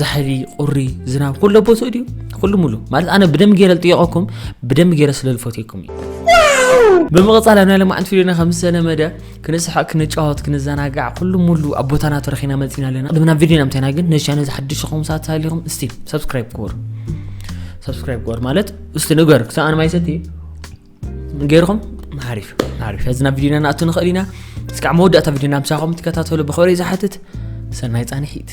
ዛሕሊ ቁሪ ዝናብ ኩሉ ቦትኡ ድዩ ኩሉ ሙሉ ማለት ኣነ ብደም ገይረ ዝጥየቐኩም ብደም ገይረ ስለ ዝፈትየኩም እዩ ብምቕፃል ኣብ ናይ ለማዕንቲ ቪድዮና ከም ዝተለመደ ክንስሓቅ ክንጫወት ክንዘናጋዕ ኩሉ ሙሉ ኣብ ቦታና ተረኺና መፂና ኣለና ቅድሚ ናብ ቪድዮና ምታይና ግን ነዚ ቻነል ዝሓድሽ ኹም ሰባት ሃሊኹም እስቲ ሰብስክራይብ ክበሩ ሰብስክራይብ ክበሩ ማለት እስቲ ንገር ክሳብ ኣነ ማይ ሰቲ ገይርኹም ሓሪፍ ሓሪፍ ሕዚ ናብ ቪድዮና ንኣቱ ንኽእል ኢና እስካዕ መወዳእታ ቪድዮና ምሳኹም ትከታተሉ ብኽብሪ ዝሓትት ሰናይ ፃንሒት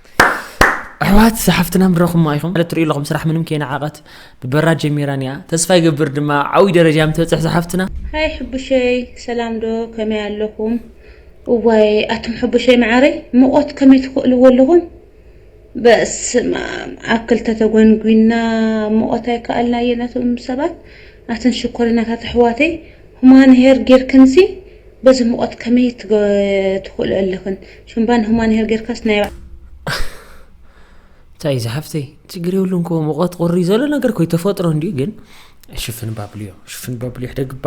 ኣሕዋት ዝሓፍትና ምረኹማ ኢኹም ማለት ትሪኡ ኣለኹም ስራሕ ምንም ከይነዓቐት ብበራ ጀሚራን እያ ተስፋ ይገብር ድማ ዓብይ ደረጃ ምትበፅሕ ዝሓፍትና ሃይ ሕቡሸይ ሰላም ዶ ከመይ ኣለኹም? እዋይ ኣቱም ሕቡሸይ መዓረይ ሙቆት ከመይ ትኽእልዎ ኣለኹም? በስመ ኣብ ኣብ ክልተ ተጎንጒና ሙቆት ኣይከኣልናየ ነቶም ሰባት ኣትን ሽኮሪናታት ኣሕዋተይ ሁማን ሄር ጌርክንሲ በዚ ሙቀት ከመይ ትክእሎ ኣለክን ሹምባ ንሁማን ሄር ጌርካስ ናይ እንታይ ዝሓፍተይ ችግር የብሉን ኮ ሙቐት ቁሪ ዘሎ ነገር ኮይ ተፈጥሮ እንዲዩ ግን ሽፍን ባብልዮ ሽፍን ባብልዮ ሕደግባ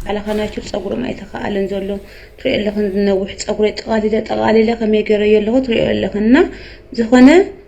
ባዕልኻ ናይ ሹር ፀጉሮም ኣይተኸኣለን ዘሎ ትሪኦ ኣለኽን ዝነውሕ ፀጉረይ ጠቓሊለ ጠቓሊለ ከመይ ገረዮ ኣለኹ ትሪኦ ኣለኽን እና ዝኾነ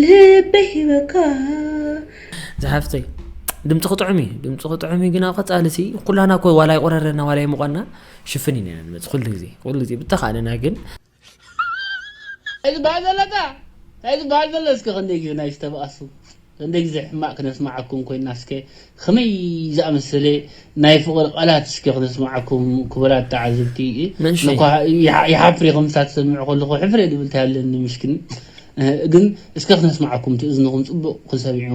ልበይ ሂበካ ዝሓፍተይ ድምፅኺ ጥዑም እዩ ድምፅኺ ጥዑም እዩ ግን ኣብ ቀፃሊ ሲ ኩላና ኮ ዋላ ይቆረረና ዋላ ይምቆና ሽፍን ኢና ንመፅ ኩሉ ግዜ ኩሉ ግዜ ብተኻእለና ግን እዚ በሃል ዘለካ እዚ በሃል ዘሎ እስከ ክንደይ ግዜ ናይ ዝተባኣሱ ክንደይ ግዜ ሕማቅ ክነስማዓኩም ኮይና እስከ ኸመይ ዝኣመሰለ ናይ ፍቕሪ ቓላት እስከ ክነስምዓኩም ክቡራት ተዓዘብቲ። እነ እኳ ይሓፍር እየ ከምዚታት ዝሰምዕ ከለኹ ሕፍር እየ ዝብል ታይ ኣለኒ ምሽክን ግን እስከ ክነስምዓኩም እቲ እዝንኹም ፅቡቕ ክሰሚዑ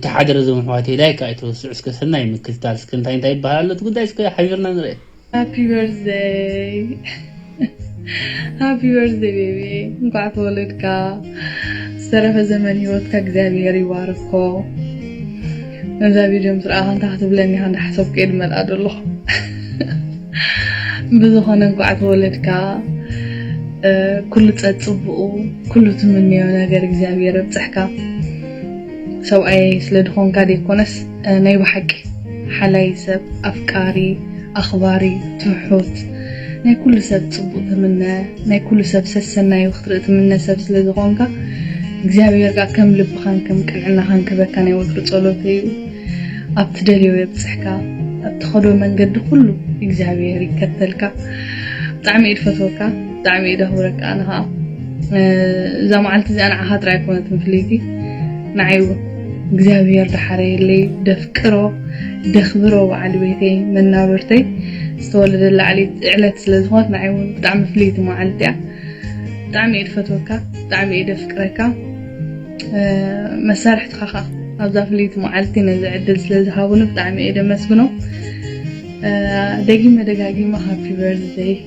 ተሓደረ እዞም ኣሕዋተይ ላይክ ኣይትረስዑ እስከ ሰናይ ምክትታል እስከ እንታይ እንታይ ይበሃል ኣሎ እቲ ጉዳይ እስከ ሓቢርና ንርእ። ሃፒ በርዝደይ ሃፒ በርዝደይ ቤቢ እንኳዕ ተወለድካ ዝተረፈ ዘመን ሂወትካ እግዚኣብሄር ይባርኮ ነዛ ቪድዮ ምስ ረኣኻ እንታይ ክትብለኒ ኢኻ እንዳሓሰብኩ እየ ድመልኣ ዘለኹ ብዝኾነ እንኳዕ ተወለድካ ኩሉ ፀፅቡኡ ኩሉ ትምንዮ ነገር እግዚኣብሄር ኣብፅሕካ ሰብኣየይ ስለ ድኮንካ ደይኮነስ ናይ ብሓቂ ሓላይ ሰብ ኣፍቃሪ ኣኽባሪ ትሑት ናይ ኩሉ ሰብ ጽቡቅ ትምነ ናይ ኩሉ ሰብ ሰሰናዩ ክትርኢ ትምነ ሰብ ስለ ዝኮንካ እግዚኣብሔር ከኣ ከም ልብካን ከም ቅንዕናካን ክህበካ ናይ ወትሩ ጸሎተይ እዩ ኣብ ትደልዮ የብጽሕካ ኣብ ትከዶ መንገዲ ኩሉ እግዚኣብሔር ይከተልካ ብጣዕሚ እየ ድፈትወካ። ብጣዕሚ እየ ደክብረካ ኣነ ከኣ እዛ መዓልቲ እዚኣ ንዓኻ ጥራይ ኣይኮነትን ፍልይቲ ንዓይ እውን እግዚኣብሔር ደሓረየለይ ደፍቅሮ ደኽብሮ በዓል ቤተይ መናብርተይ ዝተወለደላ ዕለት ስለ ዝኾነት ንዓይ እውን ብጣዕሚ ፍልይቲ መዓልቲ እያ ብጣዕሚ እየ ድፈትወካ ብጣዕሚ እየ ደፍቅረካ መሳርሕትኻ ከዓ ኣብዛ ፍልይቲ መዓልቲ ነዚ ዕድል ስለ ዝሃቡኒ ብጣዕሚ እየ ደመስግኖም ደጊመ ደጋጊመ ሃፒ በርዝደይ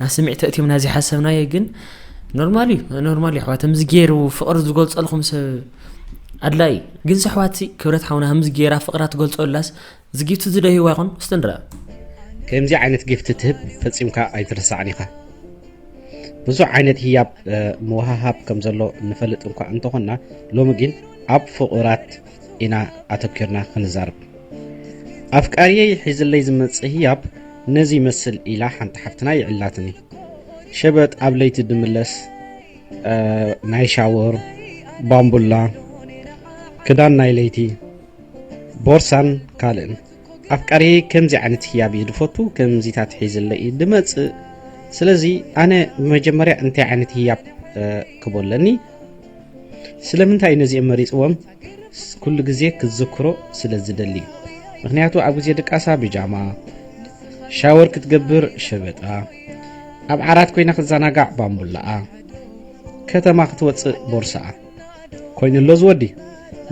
ናብ ስምዒት ተእትዮምና ዘይሓሰብናዮ ግን ኖርማል እዩ ኖርማል እዩ ኣሕዋት ከምዚ ገይሩ ፍቕሪ ዝገልፀልኩም ሰብ ኣድላይ እዩ ግን ኣሕዋት ክብረት ሓውና ከምዚ ገይራ ፍቕራ ትገልፀላስ ዝጊብቲ ዝደህይዋ ይኹን እስቲ ንርኣ ከምዚ ዓይነት ጊፍቲ ትህብ ፈፂምካ ኣይትርሳዕን ኢኻ ብዙሕ ዓይነት ህያብ ምውሃሃብ ከም ዘሎ ንፈልጥ እንኳ እንተኾንና ሎሚ ግን ኣብ ፍቑራት ኢና ኣተኪርና ክንዛርብ ኣፍቃርየይ ሒዝለይ ዝመጽእ ህያብ ነዚ ይመስል ኢላ ሓንቲ ሓፍትና ይዕላትኒ ሸበጥ ኣብ ለይቲ ድምለስ ናይ ሻወር ባምቡላ ክዳን ናይ ለይቲ ቦርሳን ካልእን ኣፍቃርየይ ከምዚ ዓይነት ህያብ እዩ ድፈቱ ከምዚታት ሒዝለይ እዩ ድመጽእ ስለዚ ኣነ መጀመርያ እንታይ ዓይነት ህያብ ክቦለኒ ስለምንታይ ነዚኦም መሪጽዎም ኩሉ ግዜ ክትዝክሮ ስለ ዝደሊ ምክንያቱ ኣብ ግዜ ድቃሳ ብጃማ ሻወር ክትገብር ሸበጣ ኣብ ዓራት ኮይና ክትዘናጋዕ ባምቡላኣ ከተማ ክትወፅእ ቦርሳኣ ኮይኑ ኣሎ ዝወዲ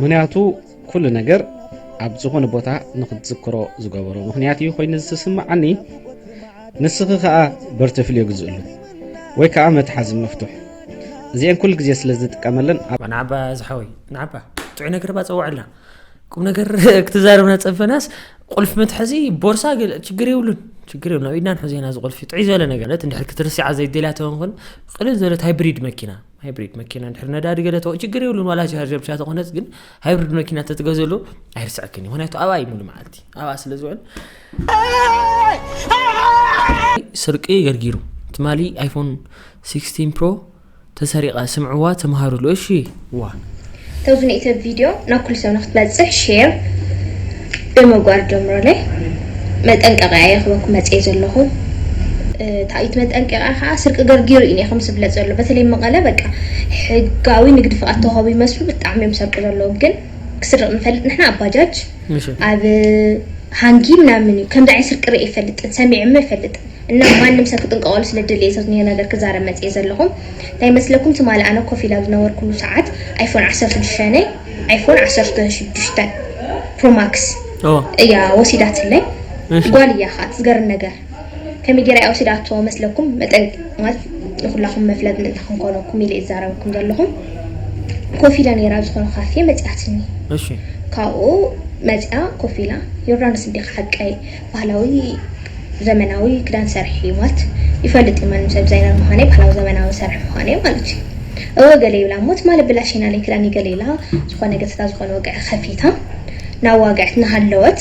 ምክንያቱ ኩሉ ነገር ኣብ ዝኾነ ቦታ ንክትዝክሮ ዝገበሮ ምክንያት እዩ ኮይኑ ዝስምዓኒ ንስኺ ከዓ በርተፍልዮ ግዝእሉ ወይ ከዓ መትሓዚ መፍትሕ እዚኤን ኩሉ ግዜ ስለ ዝጥቀመለን ናዓባ ዝሓወይ ናዓባ ጥዑይ ነገር ባ ፀውዐልና ቁም ነገር ክትዛረብና ፀበናስ ቁልፊ መትሐዚ ቦርሳ ችግር የብሉን ችግር የብሉን ኣብ ኢድና ንሕዞ ኢና እዚ ቁልፊ ጥዑይ ዝበለ ነገር እንድሕር ክትርስዓ ዘይደልያ ተኾንኩን ቅልል ዝበለት ሃይብሪድ መኪና ሃይብሪድ መኪና እንድሕር ነዳዲ ገለ ተወ ችግር የብሉን ዋላ ቻርጀር ብቻ ተኾነስ ግን ሃይብሪድ መኪና ተትገዘሉ ኣይርስዐክን እዩ ምክንያቱ ኣብኣ እዩ ሙሉ መዓልቲ ኣብኣ ስለ ዝውዕል ስርቂ ገርጊሩ ትማሊ ኣይፎን 16 ፕሮ ተሰሪቐ ስምዕዋ ተምሃሩሉ እሺ ዋ ተብዚ ንእተ ቪድዮ ናብ ኩሉ ሰብ ንክትበፅሕ ሼር ብምግባር ጀምሮለይ መጠንቀቂያ እየ ክበኩ መፅየ ዘለኹ ታይት መጠንቀቂያ ከዓ ስርቂ ገርጊሩ እዩ ኒኹም ዝብለፅ ዘሎ በተለይ መቐለ በቃ ሕጋዊ ንግዲ ፍቃድ ተዋህቡ ይመስሉ ብጣዕሚ እዮም ሰርቂ ዘለዉ ግን ክስርቅ ንፈልጥ ንሕና ኣብ ባጃጅ ኣብ ሃንጊ ምናምን እዩ ከምዚ ዓይነት ስርቂ ርእየ ይፈልጥን ሰሚዕሞ ይፈልጥን እና ማንም ሰብ ክጥንቀቀሉ ስለ ድልየ ሰብ ዝኒሆ ነገር ክዛረብ መጽየ ዘለኹም እንታይ መስለኩም ትማሊ ኣነ ኮፍ ኢላ ዝነበርኩሉ ሰዓት ኣይፎን 16 ናይ ኣይፎን 16 ፕሮማክስ እያ ወሲዳትለይ ጓል እያ ከኣ ትዝገርም ነገር ከመይ ጌራ እያ ወሲዳቶ መስለኩም መጠንቀቂ ንኩላኩም መፍለጥ ምእንቲ ክንኮነኩም ኢለ ይዛረበኩም ዘለኩ ኮፍ ኢለ ነይራ ኣብ ዝኮነ ካፌ መጺኣትኒ እሺ ካብኡ መጺኣ ኮፍ ኢላ ዮርዳኖስ እንዲካ ሓቀይ ባህላዊ ዘመናዊ ክዳን ሰርሒ እዩ ማለት ይፈልጥ እዩ ማንም ሰብ ዲዛይነር ምዃነይ ባህላዊ ዘመናዊ ሰርሒ ምዃነይ ማለት እዩ እወ ገለ ይብላ እሞ ትማሊ ኣበላሽናለይ ክዳን ይገለ ኢላ ዝኾነ ገጽታ ዝኾነ ወግዒ ከፊታ ናዋግዐት ናሃለወት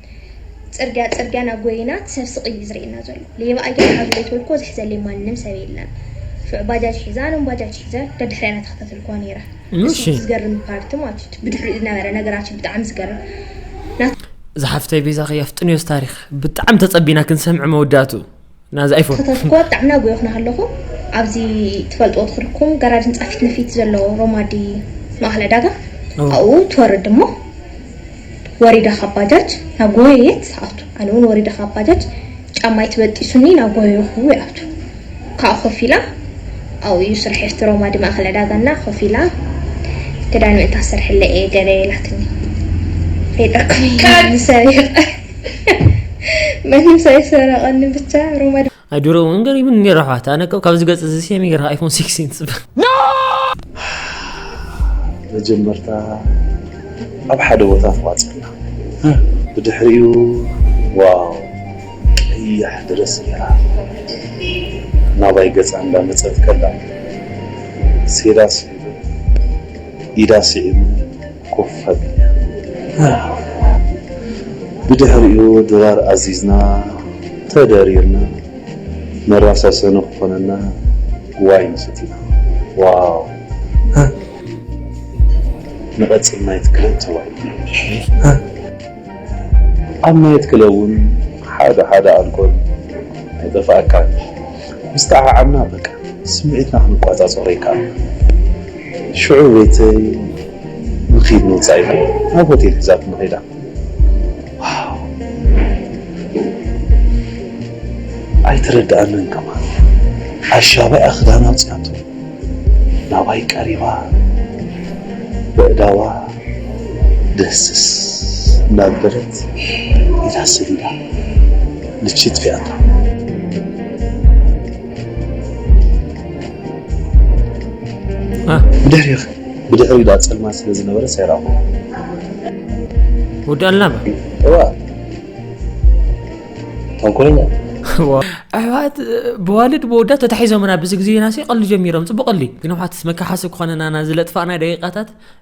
ጽርግያ ጽርግያ ናብ ጎይናት ሰብ ስቅ እዩ ዝርእየና ዘሎ ሌባ ኣያ ሓዙ ዘይትብልኮ ዝሕዘለይ ማንም ሰብ የለን ሽዑ ባጃጅ ሒዛ ኣነውን ባጃጅ ሒዘ ደድሕሪኣና ተኸታተልክዋ ነይረ እሺ ዝገርም ፓርቲ ማለት እዩ ብድሕሪኡ ዝነበረ ነገራት ብጣዕሚ ዝገርም ዝሓፍተይ ቤዛኺ ኣፍጥንዮስ ታሪኽ ብጣዕሚ ተጸቢና ክንሰምዕ መወዳእትኡ። ናዚ ኣይፎን ከተትኩዋ ብጣዕሚ ናጎየኹ ናሃለኹ ኣብዚ ትፈልጥዎ ትኽርኩም ጋራጅ ህንጻ ፊት ንፊት ዘሎ ሮማዲ ማእኸል ዕዳጋ ኣብኡ ትወርድ እሞ ወሪዳ ካብ ባጃጅ ናጎየየት ትኣቱ ኣነ ውን ወሪደ ካብ ባጃጅ ጫማይ ትበጢሱኒ ናጎየኹ ይኣቱ ካብኡ ኮፍ ኢላ ኣብኡ እዩ ስርሐይ ኣብቲ ሮማዲ ማእኸል ዕዳጋ እና ኮፍ ኢላ ክዳን ምእንቲ ኣሰርሕለይ እየ ገለ ኢላትኒ ሬጠኩም ሰሪቀ ማንም ሳይሰረቀኒ ብቻ ሮማ ኣይ ድሮ እውን ገሪብን ነይሩ ኣሕዋት ኣነ ከም ካብዚ ገፅ እዚ ሴሚ ገርካ ኣይፎን ሲክስቲን ፅበ መጀመርታ ኣብ ሓደ ቦታ ተዋፅና ብድሕሪኡ ዋው ቀያሕ ድረስ ገይራ ናባይ ገፃ እንዳመፀት ከላ ሴዳ ስዒቡ ኢዳ ስዒቡ ብድሕሪኡ ድራር ኣዚዝና ተደሪርና መራሳሰኒ ክኾነና ዋይን ሰቲና ዋው ንቐጽል ናይት ክለብ ተዋሂብና። ኣብ ናይት ክለብ ውን ሓደ ሓደ ኣልኮል ኣይጠፍኣካን ምስ ጠዓዓምና በቃ ስምዒትና ክንቋጻጸሮ ይከኣል። ሽዑ ቤተይ ንኺድ ንወጻኢ ኢላ ናብ ሆቴል ሒዛትኒ ከይዳ። ኣይተረድኣንን ከማን ኣሻብኣ ክዳን ኣውጺኣቶ ናባይ ቀሪባ በእዳዋ ደህስስ እናበለት ኢዳ ሰዲዳ ልቺ ጥፊኣታ። ብድሕሪዳ ፀልማት ስለ ዝነበረስ ኣይረኣኹን። ወዲ ኣልናባ እወ ተንኮለኛ ኣሕዋት ብዋልድ ብወዳት ተታሒዞምና ብዚ ግዜና ሲ ቀሊ ጀሚሮም ፅቡቅ ቀሊ ግን ኣሕዋት መከሓሲ ክኾነናና ዝለጥፋእና ደቂቃታት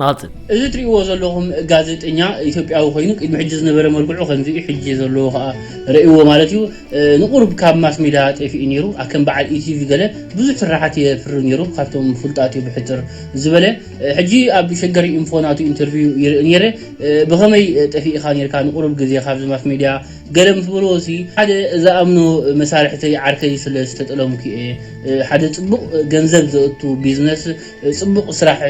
ንቐጽል። እዚ ትሪእዎ ዘለኹም ጋዜጠኛ ኢትዮጵያዊ ኮይኑ ቅድሚ ሕጂ ዝነበረ መልክዑ ከምዚ እዩ ሕጂ ዘለዎ ከኣ ረእዎ ማለት እዩ ንቁሩብ ካብ ማስ ሚድያ ጤፊኡ ኔሩ ኣከም በዓል ኢቲቪ ገለ ብዙሕ ስራሓት የፍሪ ኔሩ ካብቶም ፉልጣት እዩ ብሕጽር ዝበለ ሕጂ ኣብ ሸገር ኢንፎ ናቱ ኢንተርቪው ይርኢ ኔረ ብኸመይ ጠፊኢኻ ኔርካ ንቁሩብ ግዜ ካብዚ ማስ ሚድያ ገለ ምስ በልዎ ሲ ሓደ ዝኣምኖ መሳርሕተይ ዓርከይ ስለ ዝተጠለምኩ እየ ሓደ ጽቡቕ ገንዘብ ዘእቱ ቢዝነስ ጽቡቅ ስራሕ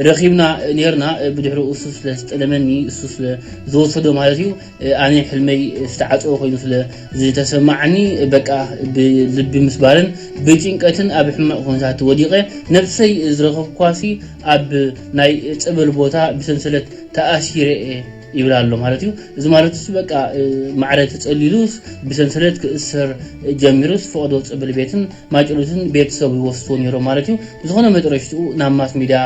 ረኪብና ኔርና ብድሕሩ እሱ ስለ ዝጠለመኒ እሱ ስለ ዝወሰዶ ማለት እዩ ኣነ ሕልመይ ዝተዓጽወ ኮይኑ ስለ ዝተሰማዓኒ በቃ ብልቢ ምስባርን ብጭንቀትን ኣብ ሕማቅ ኩነታት ወዲቀ ነብሰይ ዝረከብኩዋሲ ኣብ ናይ ጸበል ቦታ ብሰንሰለት ተኣሲረ እየ ይብል ኣሎ ማለት እዩ እዚ ማለት እሱ በቃ ማዕረ ተጸሊሉስ ብሰንሰለት ክእሰር ጀሚሩስ ፈቅዶ ጸበል ቤትን ማጭሎትን ቤተሰቡ ይወስድዎ ኔሮም ማለት እዩ ብዝኾነ መጥረሽትኡ ናብ ማስ ሚድያ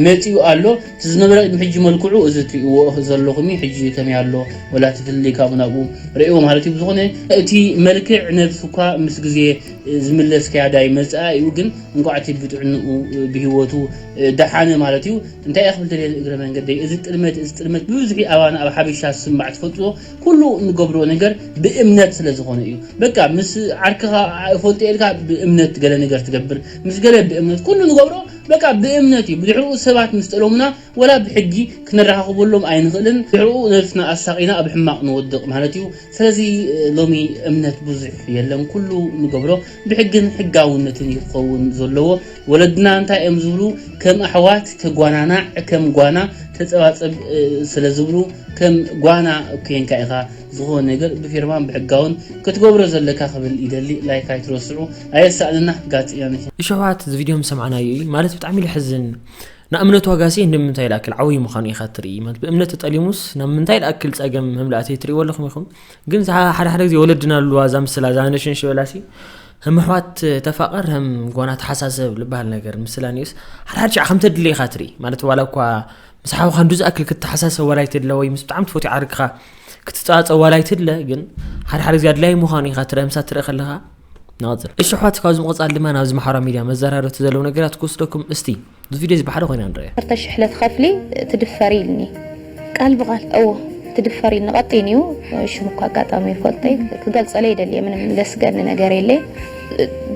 መጺኡ ኣሎ እቲ ዝነበረ ቅድሚ ሕጂ መልክዑ እዚ ትሪእዎ ዘለኹም ሕጂ ከመይ ኣሎ ወላ እቲ ፍልልይ ካብኡ ናብኡ ርኣይዎ ማለት እዩ ብዝኾነ እቲ መልክዕ ነብሱ እኳ ምስ ግዜ ዝምለስ ክያዳ ይመጽኣ እዩ ግን እንቋዕ እቲ ብጥዕንኡ ብሂወቱ ደሓነ ማለት እዩ እንታይ እየ ክብል ደልየ እግረ መንገደይ እዚ ጥልመት እዚ ጥልመት ብብዝሒ ኣባና ኣብ ሓበሻ ዝስማዕ ትፈልጥዎ ኩሉ እንገብሮ ነገር ብእምነት ስለ ዝኾነ እዩ በቃ ምስ ዓርክኻ እፈልጦ እየ ኢልካ ብእምነት ገለ ነገር ትገብር ምስ ገለ ብእምነት ኩሉ ንገብሮ በቃ ብእምነት እዩ ብድሕርኡ ሰባት ምስ ጠለሙና ወላ ብሕጊ ክነረኻኽበሎም ኣይንኽእልን ድሕርኡ ነብስና ኣሳቒና ኣብ ሕማቕ ንወድቕ ማለት እዩ ስለዚ ሎሚ እምነት ብዙሕ የለን ኩሉ ንገብሮ ብሕግን ሕጋውነትን እዩ ክኸውን ዘለዎ። ወለድና እንታይ እዮም ዝብሉ? ከም ኣሕዋት ተጓናናዕ፣ ከም ጓና ተጸባጸብ ስለ ዝብሉ ከም ጓና ኮይንካ ኢኻ ዝኾነ ነገር ብፊርማን ብሕጋውን ክትገብሮ ዘለካ ክብል ይደሊ። ላይክ ኣይትረስዑ። ኣየሳእንና ጋዜጠኛ ነሽ። እሸዋት እዚ ቪድዮ ምሰማዕናዮ እዩ ማለት ብጣዕሚ ልሕዝን ንእምነት ዋጋሲ ንምንታይ ልኣክል ዓብይ ምዃኑ ኢኻ ትርኢ ማለት ብእምነት ተጠሊሙስ ናብ ምንታይ ልኣክል ጸገም መምላእተይ ትርእይዎ ኣለኹም ኢኹም ግን ሓደ ሓደ ግዜ ወለድና ኣለዋ እዛ ምስላ እዛ ነሽን ሽበላሲ ህም ኣሕዋት ተፋቐር ህም ጓና ተሓሳሰብ ዝበሃል ነገር ምስላ ኒስ ሓድሓድ ሻዕ ከም ተድለ ኢኻ ትርኢ ማለት ዋላ እኳ ምስ ሓውካ እንዱ ዝኣክል ክትሓሳሰብ ዋላ ይትድለ ወይ ምስ ብጣዕሚ ትፈትዮ ዓርክኻ ክትፀዋፀ ዋላ ይትድለ ግን ሓድሓደ ግዜ ኣድላይ ምዃኑ ኢኻ ትርኢ ምሳ ትርኢ ከለኻ ንቐፅል እሺ ኣሕዋት ካብዚ ምቕፃል ድማ ናብዚ ማሕበራዊ ሚድያ መዘራረብቲ ዘለዉ ነገራት ክወስደኩም እስቲ እዚ ቪድዮ እዚ ብሓደ ኮይና ንርእያ። ዓሰርተ ሽሕ ለትኸፍሊ ትድፈሪ ኢልኒ ቃል ብቓል እወ ትድፈሪ ኢልኒ ቀጢን እዩ ሽሙ እኳ ኣጋጣሚ ይፈልጦ እዩ ክገልጸለ ይደልየ ምንም ዘስገኒ ነገር የለ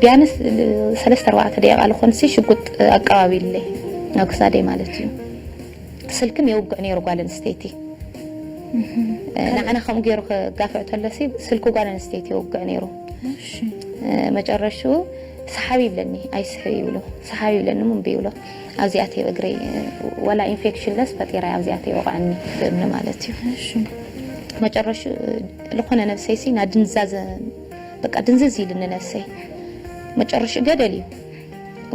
ቢያንስ ሰለስተ ኣርባዕተ ደቂቃ ልኾንሲ ሽጉጥ ኣቀባቢልለይ ኣብ ክሳደይ ማለት እዩ ስልክም የውግዕ ነይሩ ጓል ኣንስተይቲ ንዓና ከምኡ ገይሩ ክጋፍዕ ተሎሲ ስልኪ ጓል ኣንስተይቲ የውግዕ ነይሩ መጨረሽኡ ሰሓቢ ይብለኒ ኣይስሕብ ይብሎ ሰሓቢ ይብለኒ እሞ እምቢ ይብሎ ኣብዚ ኣትየ እግረይ ዋላ ኢንፌክሽን ለስ ፈጢረ ኣብዚ ኣትየ ይወቕዐኒ ብእምኒ ማለት እዩ እሺ መጨረሹ ዝኾነ ነብሰይ ሲ ናድንዛዘ በቃ ድንዝዝ ኢልኒ ነብሰይ መጨረሹ ገደል እዩ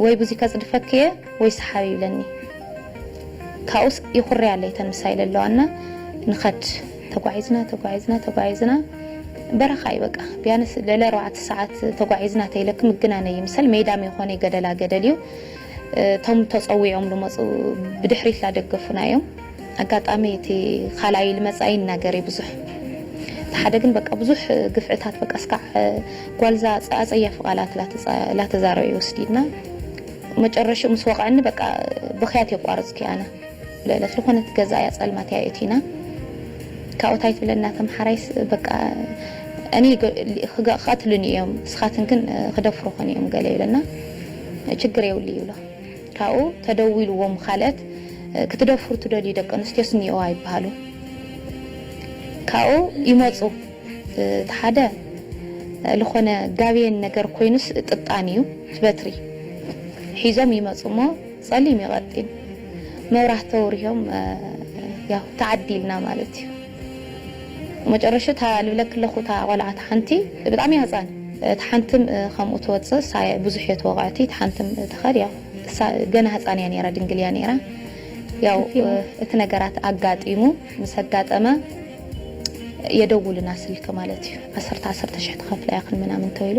ወይ ብዙይ ከጽድፈክ እየ ወይ ሰሓቢ ይብለኒ ካብኡስ ይኹርያለይ ተን ምሳይ ለለዋ እና ንኸድ ተጓዒዝና ተጓዒዝና ተጓዒዝና በረኻ እዩ በቃ ቢያንስ ልዕሊ ኣርባዕተ ሰዓት ተጓዒዝና ተይለኪ ምግናነ ይምሰል ሜዳም የኾነይ ገደላ ገደል እዩ እቶም ተፀዊዖም ልመፁ ብድሕሪት ላደገፉና እዮም ኣጋጣሚ እቲ ካልኣይ ልመፃ ይናገር እዩ ብዙሕ ሓደ ግን በቃ ብዙሕ ግፍዕታት በቃ እስካዕ ጓልዛ ኣፀያፊ ቃላት ላተዛረበ ይወስዲድና መጨረሽኡ ምስ ወቐዕኒ በቃ ብክያት የቋረፅኩ ኣነ ልዕሊ ዝኮነት ገዛ እያ ፀልማት እያ የእቲና ካብኡ ታይ ትብለና ከም ሓራይስ በቃ እኔ ክቀትሉኒ እዮም ንስካትን ግን ክደፍሩክን እዮም ገለ ይብለና ችግር የብሉ ይብሎ ካብኡ ተደዊልዎም ካልእት ክትደፍሩ ትደልዩ ደቂ ኣንስትዮስ እኒኦዋ ይበሃሉ ካብኡ ይመፁ እቲ ሓደ ልኮነ ጋብየን ነገር ኮይኑስ ጥጣን እዩ እቲ በትሪ ሒዞም ይመፁ እሞ ጸሊም ዩ ቀጢን መብራህቲ ተውሪሆም ያው ተዓዲልና ማለት ዩ መጨረሹ እታ ልብለኪ ኣለኩ እታ ቆልዓ እታ ሓንቲ ብጣዕሚ እያ ህጻን እታ ሓንቲ ከምኡ ትወጽእ እሳ ብዙሕ እየ ተወቂዐቲ እታ ሓንቲ ትከድ ያው እሳ ገና ህጻን እያ ነይራ ድንግል እያ ነይራ ያው እቲ ነገራት ኣጋጢሙ ምስ ኣጋጠመ የደውሉና ስልኪ ማለት ዩ ዓሰርተ ዓሰርተ ሽሕ ትከፍላ ኢክን ምናምን ተብሉ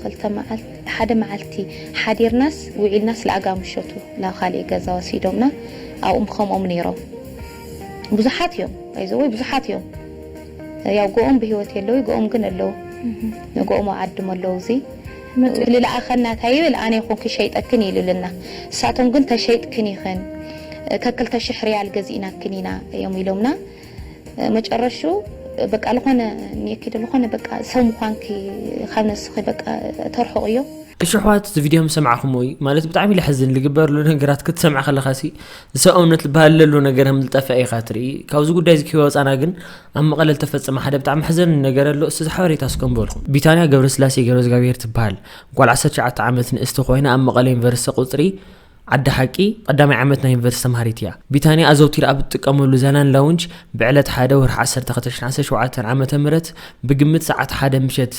ክልተ መዓልቲ ሓደ መዓልቲ ሓዲርናስ ውዒልናስ ለኣጋ ምሸቱ ናብ ኻሊእ ገዛ ወሲዶምና ኣብኡም ኸምኦም ነይሮም ብዙሓት እዮም ባይ ዘ ወይ ብዙሓት እዮም ያው ገኦም ብህይወት የለውይ ገኦም ግን ኣለው ገኦም ኣብ ዓድም ኣለው እዙይ መፂኡ ልለኣኸና እንታይ ይብል ኣነ ይኹን ክሸይጠክን ኢሉልና ንሳቶም ግን ተሸይጥክን ኢኽን ከክልተ ሽሕ ሪያል ገዚእናክን ኢና እዮም ኢሎምና። መጨረሽኡ በቃ ልኾነ ንየኪዶ ልኾነ በቃ ሰው ምዃንኪ ካብ ነስኺ በቃ ተርሕቑ እዮ። እሺ ኣሕዋት እዚ ቪድዮ ምስ ሰማዕክሞ እዩ ማለት ብጣዕሚ ለሕዝን ልግበር ዘሎ ነገራት ክትሰምዕ ከለካ ሲ ሰብኣውነት ልበሃል ለሎ ነገር ከም ዝጠፍዐ ኢካ ትርኢ ካብዚ ጉዳይ እዚ ክወፃና ግን ኣብ መቐለ ዝተፈፀመ ሓደ ብጣዕሚ ሕዘን ነገር ኣሎ እስቲ ሓበሬታ እስከ ንበልኩም ቢታንያ ገብረስላሴ ገብረዝጋብሄር ትበሃል ጓል 19 ዓመት ንእስቲ ኮይና ኣብ መቐለ ዩኒቨርሲቲ ቁፅሪ ዓዲ ሓቂ ቐዳማይ ዓመት ናይ ዩኒቨርሲቲ ተምሃሪት እያ። ቢታንያ ኣዘውቲራ ኣብ እትጥቀመሉ ዛላን ላውንጅ ብዕለት ሓደ ወርሒ ዓሰርተ ክልተ ሽሕ ዓሰርተ ሸውዓተ ዓመተ ምህረት ብግምት ሰዓት ሓደ ምሸት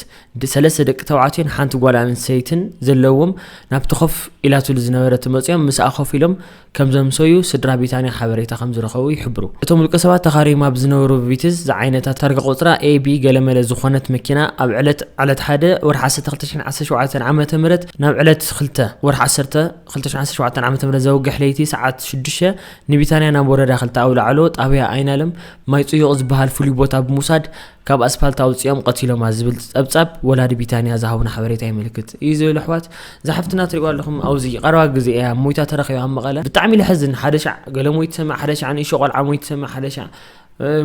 ሰለስተ ደቂ ተባዕትዮን ሓንቲ ጓል ኣንሰይትን ዘለዎም ናብቲ ኮፍ ኢላትሉ ዝነበረት መፅዮም ምስኣ ኮፍ ኢሎም ከምዘምሰዩ ስድራ ቢታንያ ሓበሬታ ከምዝረኸቡ ይሕብሩ። እቶም ውልቀ ሰባት ተኻርዮም ኣብ ዝነበሩ ቪትዝ ዝዓይነታ ታርጋ ቁፅራ AB ገለመለ ዝኾነት መኪና ኣብ ዕለት ዕለት ሓደ ወርሒ ዓሰርተ ክልተ ሽሕ ዓሰርተ ሸውዓተ ዓመተ ምህረት ናብ ዕለት ክልተ ወርሒ ዓሰርተ ክልተ ሽሕ ዓሰርተ ሸውዓተ ዓመተ ምህረት ዘውግሕ ለይቲ ሰዓት ሽዱሽተ ንቢታንያ ናብ ወረዳ ክልተ ኣውላዕሎ ጣብያ ኣይናለም ማይ ጽዩቕ ዝበሃል ፍሉይ ቦታ ብምውሳድ ካብ ኣስፓልት ኣውጺኦም ቀቲሎማ ዝብል ጸብጻብ ወላዲ ቢታንያ ዝሃቡና ሓበሬታ የመልክት እዩ ዝብል ኣሕዋት ዝሓፍትና ትሪእዋ ኣለኹም ኣብዚ ቀረባ ግዜ እያ ሞይታ ተረኺባ ኣብ መቐለ ብጣዕሚ ለሕዝን ሓደ ሻዕ ገለ ሞይት ሰማዕ ሓደ ሻዕ ንእሾ ቆልዓ ሞይት ሰማዕ ሓደ ሻዕ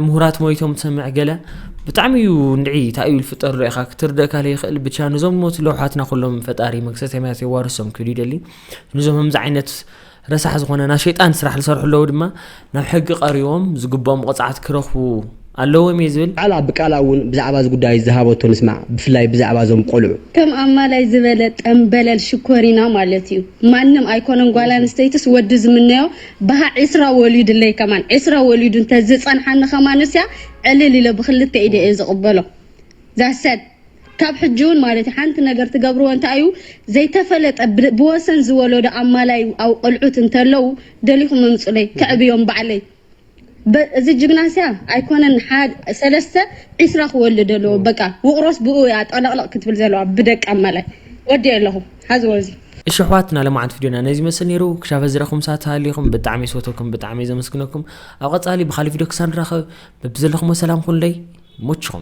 ምሁራት ሞይቶም ትሰምዕ ገለ ብጣዕሚ እዩ እንድዒ እንታይ እዩ ዝፍጠር ርኢኻ ክትርደእካ ዘይክእል ብቻ ንዞም ሞት ለው ሓትና ኩሎም ፈጣሪ መንግስተ ሰማያት የዋርሶም ክብል ይደሊ ንዞም ከምዚ ዓይነት ረሳሕ ዝኾነ ናይ ሸይጣን ስራሕ ዝሰርሑ ኣለዉ ድማ ናብ ሕጊ ቀሪቦም ዝግብኦም ቕፅዓት ክረኽቡ ኣለዎም እየ ዝብል ባዕላ ብቃላ እውን ብዛዕባ እዚ ጉዳይ ዝሃበቶ ንስማዕ ብፍላይ ብዛዕባ እዞም ቆልዑ። ከም ኣማላይ ዝበለ ጠምበለል ሽኮሪና ማለት እዩ ማንም ኣይኮነን ጓል ኣንስተይትስ ወዲ ዝምነዮ በሃ ዕስራ ወሊዱለይ ከማን ዕስራ ወሊዱ እንተ ዝጸንሓኒ ከማንስ እያ ዕልል ኢለ ብክልተ ኢደይ እየ ዝቕበሎ ዛሰድ ካብ ሕጂ ውን ማለት እዩ ሓንቲ ነገር ትገብርዎ እንታይ እዩ ዘይተፈለጠ ብወሰን ዝወለዶ ኣማላይ ኣብ ቆልዑት እንተለው ደሊኹም እምጹለይ ከዕብዮም ባዕለይ እዚ ጅግና ስያ ኣይኮነን ሰለስተ ዕስራ ክወልድ ኣለዎ በቃ ውቕሮስ ብኡ እያ ጠለቕለቕ ክትብል ዘለዋ ብደቂ ኣማላይ ወዲ ኣለኹ ሓዝዎ እዚ እሺ ኣሕዋትና ለማዓንቲ ቪድዮና ነዚ ይመስል ነይሩ ክሻብ ሀዚ ረኹም ሳት ተሃሊኹም ብጣዕሚ እየ ዝፈትወኩም ብጣዕሚ እየ ዘመስግነኩም ኣብ ቐፃሊ ብኻሊእ ቪድዮ ክሳብ ንራኸብ በብዘለኹሞ ሰላም ኩኑለይ ይሞችኹም